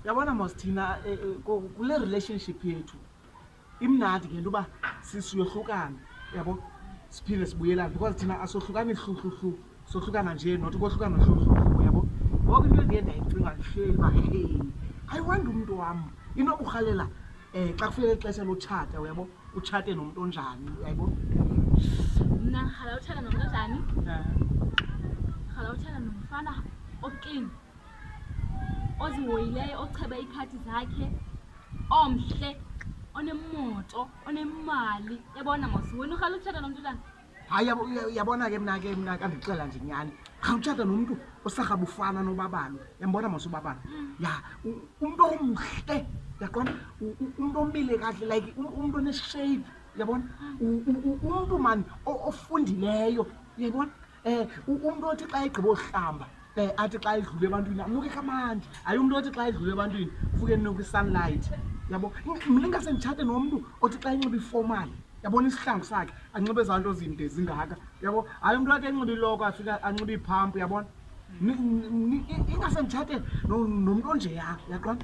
yabona mos thina eh, eh, ko- kule relationship yethu imnandi ngento uba si- siyohlukana yabo siphinde sibuyelane because thina asohlukani hluhluhlu sohlukana nje not kohlukana hluhluhlu yabo ngoku into endiye ndayicinga ndihleli uba hey ayiwandi umntu wam inokurhalela um xa kufike ixesha lotshata uyabo utshate nomntu onjani yayibo mna rhala utshana nomntu onjani rhala utshana nomfana oklini ozihoyileyo ocheba iikhadi zakhe omhle onemoto onemali yabona mos wena urhala utshata nomntu tana hayi uyabona ke mna ke mna kandixela nje nyhani khawutshata nomntu osarhabufana nobabalo yambona mos ubabalo mm. ya umntu omhle yaqona umntu omile kahle like um, umntu oneshape yabona mm. umntu mani ofundileyo yayibona um umntu othi xa egqibohlamba um athi xa edlule ebantwini anuke kamandi ayi umntu othi xa edlule ebantwini kufuke enuke isunlight yabo mna ingase nditshate nomntu othi xa enxiba iformal yabona isihlangu sakhe anxibe ezaa nto zinde zingaka yabo hayi umntu wakhe enxiba iloko afika anxiba iiphampu yabona ingase nditshate nomntu onjeya yaqona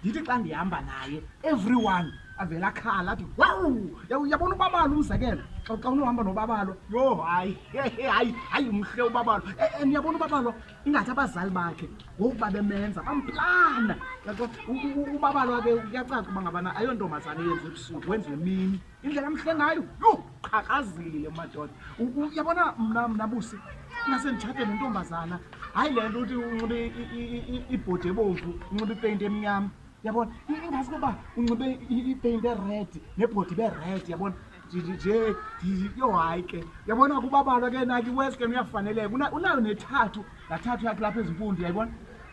ndithi xa ndihamba naye everyone avela khala athi wawu yabona ubabalo umzekelo xa xa unohamba nobabalo yho hayi hayi hayi mhle ubabalo e, e, niyabona ubabalo ingathi abazali bakhe ngokuba bemenza bamplana ubabalo ake kuyacaca uba ngabana ayontombazane yenza ebusuku wenza emini indlela mhle ngayo yho qhaqhazile madoda uyabona mna mna busi ingase nditshate nentombazana hayi le nto uthi unxibe ibhodi ebomvu unxibe ipeyinti emnyama yabona ingazi koba unxibe ipeyinti ered nebhodi ibered yabona nje yho hayi ke yabona kubabalwa ke naki wes ke uyafaneleka unayo nethathu laa thathu yakhe lapha ezimpundu yayibona